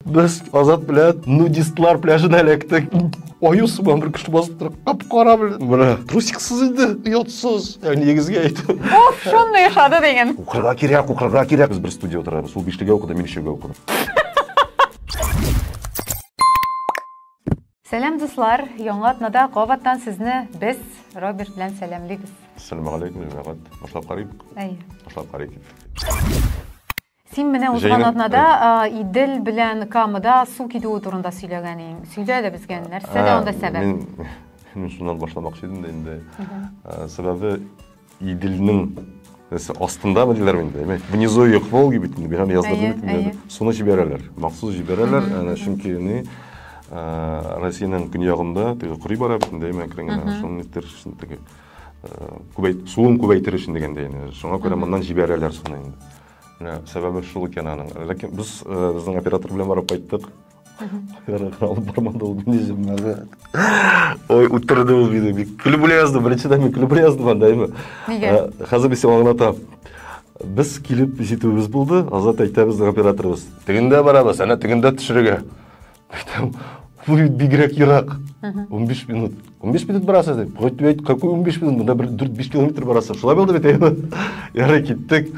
Без Азат белән нудистлар пляжына эләктек. Аю сыман бер кеше басып тора. Кап-кара белән. Менә трусиксыз инде, оятсыз. Ә нигезгә әйтәм. Уф, шундый яшады дигән. Укырга кирәк, укырга кирәк. Без бер студия утырабыз. Ул бишлегә укыды, мин өчәүгә укыдым. Сәлам дуслар, яңа атнада кабаттан сезне без Роберт белән сәламлибез. Ассаламу алейкум, җәмәгать. Башлап карыйк. Әйе. Башлап карыйк. Син менә узган атнада Идел белән Камыда су китүе турында сөйләгән идең. Сөйлә әле безгә, нәрсә дә анда сәбәп? Мин шуннан башламакчы идем дә инде. Сәбәбе Иделнең астында ма диләр инде, внизу ее Волги бит инде, бирам язда бит. Суны җибәрәләр, махсус җибәрәләр, әнә чөнки ни Россиянең көньягында теге кори бара бит инде, әмма әкрен генә шуны нитер өчен теге күбәйт, суын күбәйтер өчен дигәндә инде. Шуңа күрә моннан җибәрәләр суны инде. Менә сәбәбе шул икән аның. Ләкин без э, безнең оператор белән барып кайттык. Оператор алып бармады ул мине җимнәргә. Ой, үтерде ул мине. Бик көлеп үлә язды. Беренчедән мин көлеп үлә яздым анда әйме. Нигә? Э, Хәзер мин сиңа аңлатам. Без килеп җитүебез булды. Азат әйтә безнең операторыбыз. Тегендә барабыз, әнә тегендә төшерергә. Айтам, бу бит бигрәк ерак. 15 минут. 15 минут барасыз дип. Гайтып әйт, какой 15 минут? Монда бер 4-5 километр барасыз. Шулай булды бит әйме. Ярый киттек.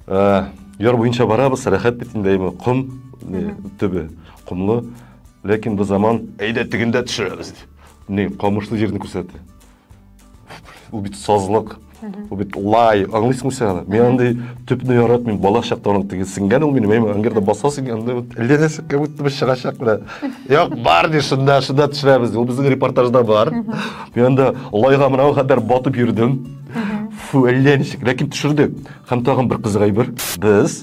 Ә, яр буенча барабыз, рәхәт бит инде әйме. Ком не, төбе, комлы. Ләкин бу заман әйдә тегендә төшерәбез. Не, камышлы җирне күрсәтте. Ул бит сазлык, ул бит лай, аңлыйсыңмы син аны? Мин андый төпне яратмыйм, бала чактан ук теге сеңгән ул минем, әйме, әңгердә басасың, анда вот ленәсе как будто бы чыгачак менә. Як бар ди, шунда, шунда төшерәбез. Ул безнең репортажда бар. Мин анда лайга менә ул хәтер батып йөрдем. Фу, әллә ничек, ләкин төшердек. Һәм тагын бер кызык әйбер. Без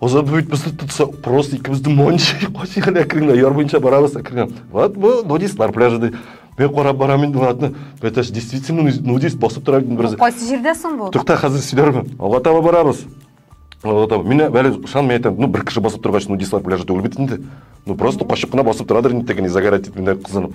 озат бит без тотса просто икебез дә монча качык әле әкренләп яр буенча барабыз әкренләп вот бу нудистлар пляжы ди мен карап барам инде атны это ж действительно нудист басып тора бит бераз кайсы җирдә соң бу тукта хәзер сөйләрмен алга таба барабыз алга таба мин әле ышанмый әйтәм ну бер кеше басып торгач нудистлар пляжы түгел бит инде ну просто качып кына басып торадыр инде теге загорать итеп кызынып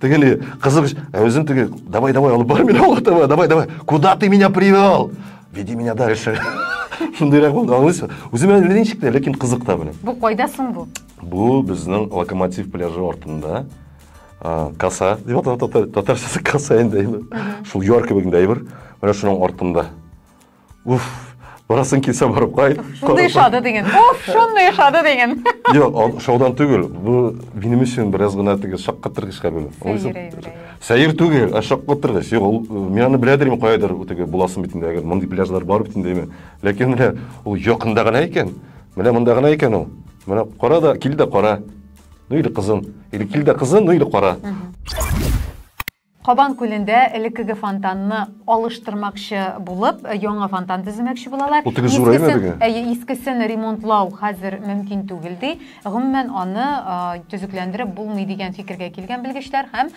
Тегеле кызык, ә үзем теге, давай, давай, алып бар мин алып давай, давай, давай, куда ты меня привел? Веди меня дальше. Шундыйрак булды, аңлыйсың? Үземә ничек тә, ләкин кызык та белән. Бу кайда соң бу? Бу безнең локомотив пляжы артында. Каса, дип аталат татарчасы каса инде. Шул яр кебек әйбер. Менә шуның артында. Уф, барасың килсә барып кайт. Шундый шады деген. Уф, шундый шады деген. Юк, шаудан түгел. Бу минем өчен бераз гына теге шаккатыргыч хәбәр. Сәер түгел, ә шаккатыргыч. Юк, ул э, мин аны беләдер инде кайдыр, теге буласын бит инде, әгәр мондый пляжлар бар бит инде. Ләкин менә ул якында гына икән. Менә монда гына икән ул. Менә кара да, кил дә кара. Ну или кызын. Или кил дә кызын, ну или кара. Кабан күлендә элеккеге фонтанны алыштырмакчы булып, яңа фонтан төземәкче булалар. Утыгыз зураймы беге? Әйе, искесен ремонтлау хәзер мөмкин түгел, ди. Гомумән, аны төзекләндереп булмый, дигән фикергә килгән белгечләр һәм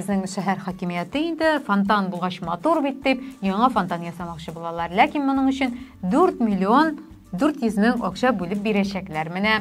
безнең шәһәр хакимияте инде, фонтан булгач матур бит дип, яңа фонтан ясамакчы булалар. Ләкин моның өчен 4 миллион 400 мең акча бүлеп бирәчәкләр. Менә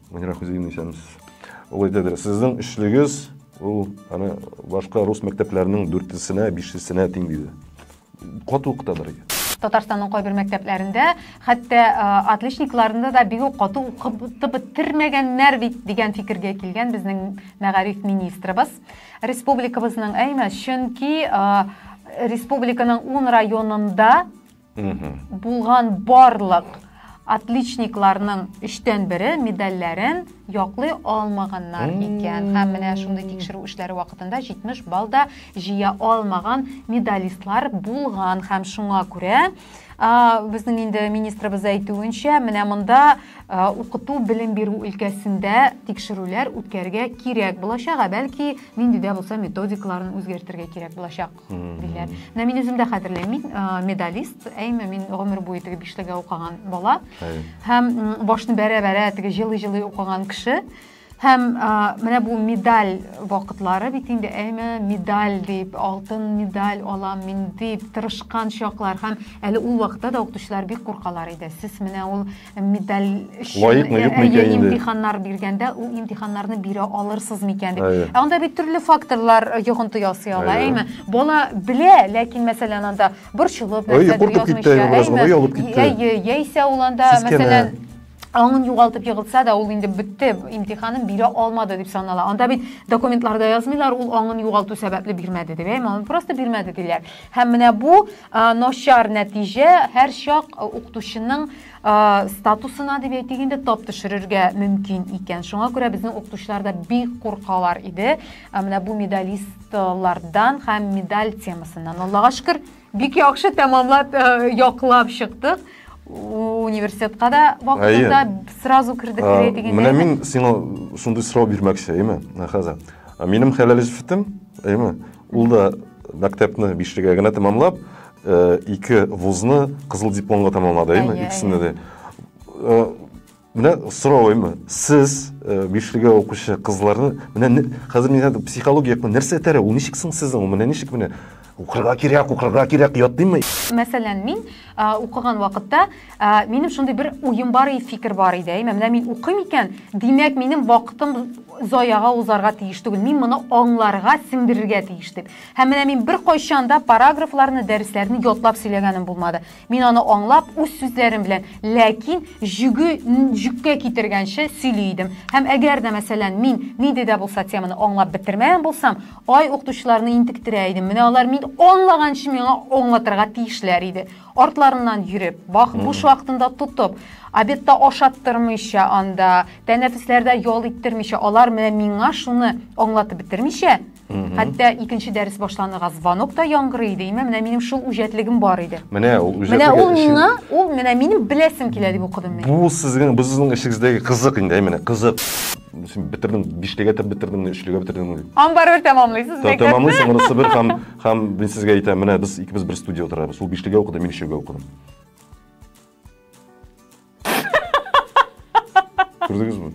Мөнирә Хузиевна исәнмесез. Ул әйтәдер, сезнең эшлегез ул аны башка рус мәктәпләренең дүртесенә, бишесенә тиң диде. Кату укытадыр. Татарстанның кайбер мәктәпләрендә хәтта отличникларны да бик үк кату укытып бетермәгәннәр бит дигән фикергә килгән безнең мәгариф министрыбыз. Республикабызның әйме, чөнки республиканың ун районында Булган барлык отличникларның өчтән бере медальләрен яклый алмаганнар икән. Һәм менә шундый тикшерү эшләре вакытында 70 балл да җыя алмаган медалистлар булган. Һәм шуңа күрә безнең инде министрыбыз әйтүенчә, менә монда укыту белем бирү өлкәсендә тикшерүләр үткәргә кирәк булачак, ә бәлки нинди дә булса методикаларын үзгәртергә кирәк булачак. диләр. Менә мин үзем дә хәтерлим, мин медалист, әйме, мин гомер буе теге бишлегә укыган бала. Һәм башны бәрә-бәрә теге җылый-җылый укыган кеше. Һәм менә бу медаль вакытлары бит инде, әйме, медаль дип, алтын медаль алам мин дип тырышкан чаклар. Һәм әле ул вакытта да укытучылар бик куркалар иде. Сез менә ул медаль өчен лаекмы юкмы икән инде имтиханнар биргәндә ул имтиханнарны бирә алырсыз микән дип ә анда бит төрле факторлар йогынты ясый ала әйме бала белә ләкин мәсәлән анда борчылып нәрсәдер язмыйча әйе яисә ул анда мәсәлән аңын югалтып егылса да ул инде бетте имтиханын бирә алмады дип санала анда бит документларда язмыйлар ул аңын югалту сәбәпле бирмәде дип әйме аны просто бирмәде диләр һәм менә бу Начар нәтиҗә һәрчак укытучының статусына дип әйтик инде тап төшерергә мөмкин икән. Шуңа күрә безнең укытучылар да бик куркалар иде. Менә бу медалистлардан һәм медаль темасыннан. Аллага шөкер, бик яхшы тәмамлап, яклап чыктык. Университетка да вакытында сразу кирдек дип әйтик инде. Менә мин сиңа шундый сорау бирмәкче, әйме, Хәза. Минем хәләл җефетем, әйме, Ул да мәктәпне бишлегә генә тәмамлап, э, ике вузны кызыл дипломга тәмамлады, әйме? Әйе, Икесендә дә. Э, Менә сорау әйме? Сез э, бишлегә укучы кызларны, менә не- хәзер мин әйтәм, психология якны нәрсә этәрә? Ул ничек соң сезнең? Ул менә ничек менә? Укырга кирәк, укырга кирәк, ятдыймы? Мәсәлән, мин а, укыган вакытта Ә, минем шундый бер уем бар и фикер бар иде. Әй, менә мин укыйм икән, димәк, минем вакытым заяга узарга тиеш түгел. Мин моны аңларга, сеңдерергә тиеш дип. Һәм менә мин бер кайчан да параграфларны, дәресләрне ятлап сөйләгәнем булмады. Мин аны аңлап, үз сүзләрем белән, ләкин җүге җүккә китергәнче сөйли идем. Һәм әгәр дә, мәсәлән, мин нинди дә булса теманы аңлап бетермәгән булсам, ай укытучыларны интектерә идем. Менә алар мин аңлаганчы миңа аңлатырга тиешләр иде. артларыннан йөреп, вак буш вакытында тотып, обедта ашаттырмыйча анда, тәнәфесләрдә ял иттермичә, алар менә миңа шуны аңлатып бетермичә, хәтта икенче дәрес башланырга звонок та яңгырый иде, имә менә минем шул үҗәтлегем бар иде. Менә ул үҗәтлеге Менә ул миңа, ул менә минем беләсем килә дип укыдым мин. Бу сезнең, бу сезнең эшегездәге кызык инде, әйменә, кызык. Син бетердең, биштәгә тә бетердеңме, өчлегә бетердеңме? Аны барыбер тәмамлыйсыз, бик тә. Тәмамлыйсың, монысы бер һәм Һәм мин сезгә әйтәм, менә без икебез бер студия утырабыз. Ул бишлегә укыды, мин өчәүгә укыдым. Күрдегезме?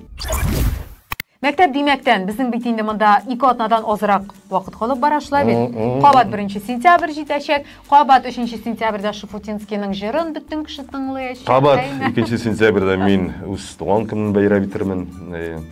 Мәктәп димәктән, безнең бит инде монда ике атнадан азрак вакыт калып бара шулай бит. Кабат 1 сентябрь җитәчәк, кабат 3 сентябрьдә Шафутинскийның җырын бөтен кеше тыңлаячак. Кабат 2 сентябрьдә мин үз туган көнен бәйрәм итермен.